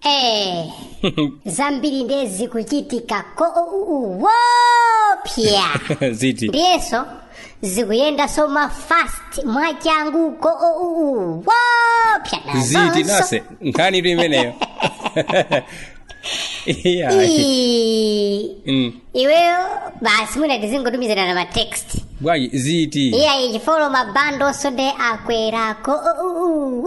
Eh, zambiri ndiye zikuchitika koopya ziti ndiyenso zikuyendanso mafast mwachangu koopya ziti nase nkhanitu imeneyo iya Mm. iweyo basi mwina tizingotumizirana matext bwanji ziti iya ichifolo mabandonso nde akwera koopya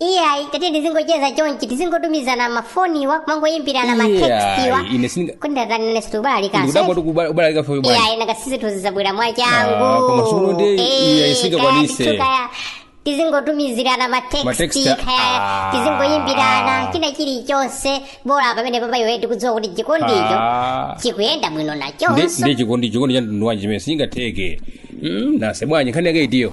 iyayi tati tizingocheza chonchi tizingotumizana mafoniwa kumangoyimbirana matextiwa ine sindinga kuti ndatanene situbalika ndikudabwa kuti kubala- kubalalika fe bwana iyayi nanga si situzizabwera mwa Ah, koma sono ndi iyayi singakwanise. changu kaya tizingotumizirana Matext, matexti ah. kaya tizingoyimbirana china chilichonse bora pamenepapa iwe tikudziwa kuti chikondicho Ah. chikuyenda bwino Nde- nachonso nde chikondi chikondi cha mtundu wanji chimene sichingatheke Mm, nase bwanji nkhani yake itiyo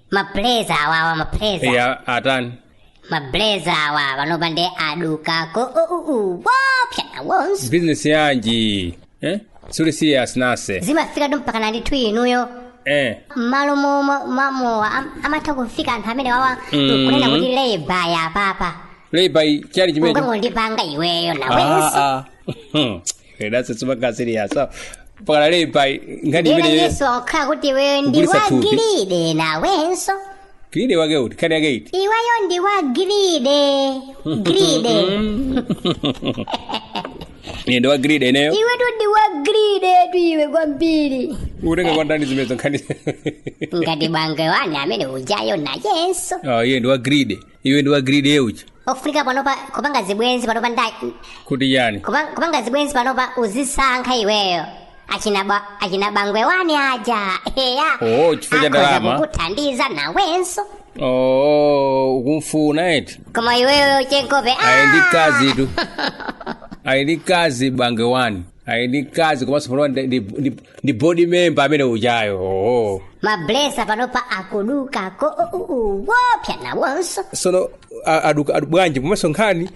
mablazer awawa mablazer eya atani mablazer awa panopa ndiye aduka koopya nawonso bizinesi yanji eh? suli serious nase zimafikatu mpaka na ndithu inuyo eh. mmalo mo- mo- mamowa am- amatha kufika anthu amenewawa Mhm. kunena kuti leba ya papa leibai chali chimecho ukangondipanga iweyo nawenso Ah, ah. That's super serious. So, mpaka leiba ngani Yena imene ndisoka kuti iweyo ndi Kugulitsa thupi. wagiride nawenso giride wake uti nkhani yake iti iweyo ndi wagiride giride ine ndi wagiride ineyo iwetu ndi wagiridetu iwe kwambiri utenga kwa ndani zimenezo nkhani ngati bangwe wani ameneujayo nayenso oh iye ndi wagiride iwe ndi wagiride e uja ofunika panopa kupanga zibwenzi panopa ndani kuti chani kupa- kupanga zibwenzi panopa uzisankha iweyo achina ba- achina bangwe wani aja eya Oh, chifukwa cha ndalama. akuthandiza nawenso oo ukumfuna eti koma iweyo chenkope ah! ayi ndi mkazitu ayi ndi mkazi bangwe wani ayi ndi mkazi komanso panopa ndi- ndi- ndi- ndi board member ameneujayo oho mablesser panopa akuduka koopya nawonso sono a- aduka adu- bwanji komanso nkhani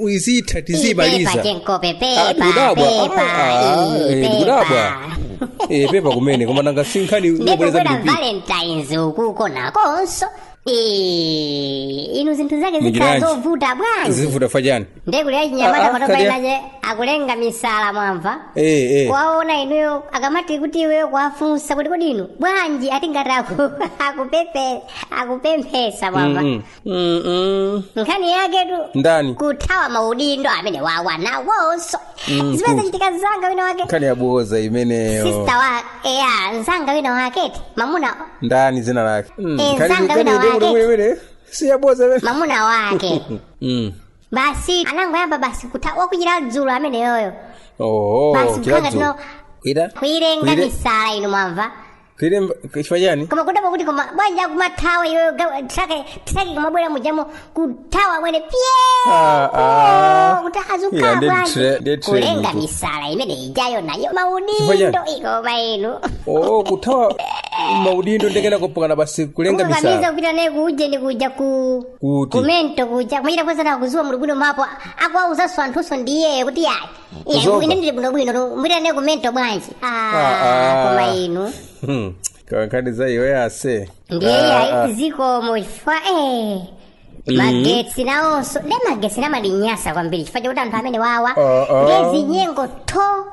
izitha ipepa tizimaliza chenkope Ah, pepa ndikudabwa. pepa Ah, eh, iyi, ndikudabwa. pepa Eh, pepa kumene koma nanga si nkhani ndikubwera ndikubweza mdp valentines ukuko nakonso Eh, inu zinthu zake zikhala zovuta bwanji zivuta fajani ndiye kuti achinyamata Ah, ah, panopa kaliya. inaje akulenga misala mwamva Eh, eh. kuwaona inuyo akamati kuti iweyo kuwafunsa kuti kodi inu bwanji ati ngati aku- akupepe akupemphesa mwamva Mm, mm, mm. nkhani yaketu ndani kuthawa maudindo amenewawa nawonso Mm, zimene zachitika mzanga wina wake nkhani yaboza imeneyo sister wa eya mzanga wina wake eti mamuna ndani zina lake Mm, Eh, nkhani- zanga wina nkhani wake. yobwere- bwere- si yaboza imene mamuna wake Mm. basi anangoyamba basi kuthawa kuchita dzulo ameneyoyo Oh, Basi, chila mkanga dzulo. tino- Kuita? kuilenga Kuile- misala inu mwamva kiri chifukwa chani kumadabwa kuti koma bwanji akumathawa iyoyo trake trake kumabwera mujamo kuthawa mwene pye Ah, ah. Oh, kuti azukhala Yeah, ndeti bwanji. tre- ndeti tre kulenga mutu. misala imene ijayo nayo Chifukwa maudindo chani? ikoma inu oo kuthawa maudindo nde kenako pokana basi kulenga kukakamiza misala kupita naye kuuje ndi kuja ku Kuti? kumento kuja kumachita kuziwa mulibwino mapo akuwauzaso anthunso ndiye kuti yayi Iye Kuzoba. ine ndili bwino bwino tu mupita nane kumento bwanji. Ah, Ah. koma inu. Hmm, kaya nkhani za iwe ase Ndiye Ah, ah. yayi ziko mofa eh. Magetsi nawonso nde magetsi ndimanyasa kwambiri chifukwa chakuti anthu amenewawa Ah, ah. nde zinyengo tho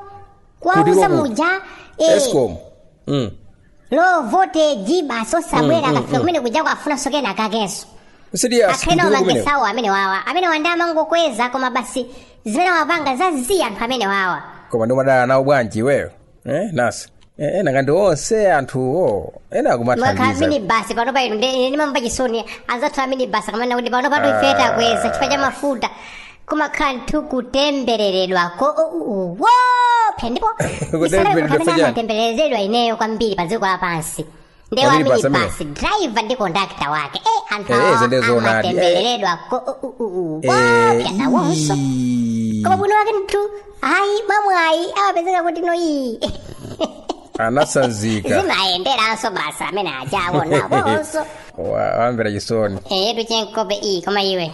kwauza Kuliko ku- muja eh, escom Mm. low voltage basi osabwera akafika kumene kuja akufunaso kenakakenso sidi akhena asikidiko kumene amagesiwo amenewawa amenewa nde amangokweza koma basi zimene wapanga zazii anthu amenewawa koma ndimadana nawo bwanji iweyo eh nasi eh nanga ndi onse anthuwo ena mwakhala akumathandiza mini basi pano ine ndimamva chisoni anzathu amini basi akamanena kuti pano pa town ife takweza chifukwa cha mafuta kumakhala ndithu kutembereredwa koopsa ndipo Kutembereredwa amene chani? amatembereredwa ineyo kwambiri pa dziko lapansi nde wa Kwambiri pasa minibasi driver ndi kondakta wake e anthu Eh, awa izi ndi zoonadi. amatembereredwa koopsa nawonso koma bwino wake ndithu ayi mamwayi amapezeka kuti noyi anasanzika zimayenderanso basi amene ajawo nawonso Wa- ndawamvera chisoni eyetu chenkope koma iwe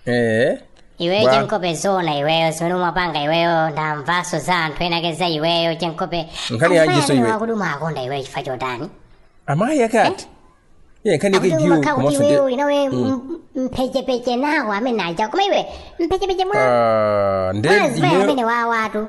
eh iweyo Bwa. chenkope zona iweyo zimene umapanga iweyo ndamvaso za anthu enaake za iweyo chenkope Nkhani yanjiso iwe? ya kuti umakonda iweyo chifukwa chotani amayi akati ye nkhani yake akuti giyo umakhala kuti komanso iweyo uli nawo mpechepeche nawo amene aja koma iwe mpechepeche mwa Ah, nde mazimayi amenewawatu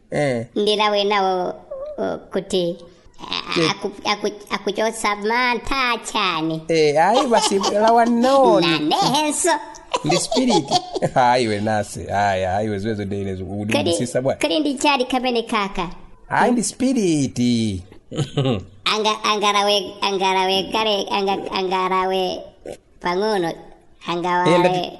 eh ndilawe nawo uh, kuti a- aku- aku- akuchotsa mantha chani eh ayi basi lawa noni nanenso ndi spirit ayi we nasi ayi ayi we ziwezo ndeyine zikudisisa bwana kodi ndi chani kamene kaka ayi ndi spirit anga angarawe angarawe kale anga angarawe pang'ono angawale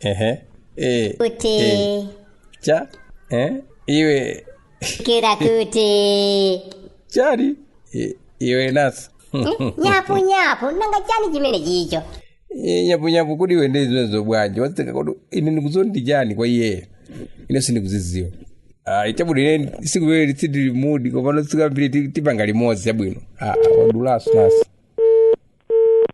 ehe eh, kuti eh, cha eh, iwe kira kuti chali eh, iwe nasi nyapunyapu nanga chani chimene chicho Eh, nyapunyapu kodi iwe ndi zimenezo bwanji wazitenga kuti ine ndikuzondi chani kwa iyeyo ine sindikuziziwa Ah, chabwino ine siku lile litsidi limudi komanso tikambirane tipange limodzi chabwino Ah, ah, wadulaso nasi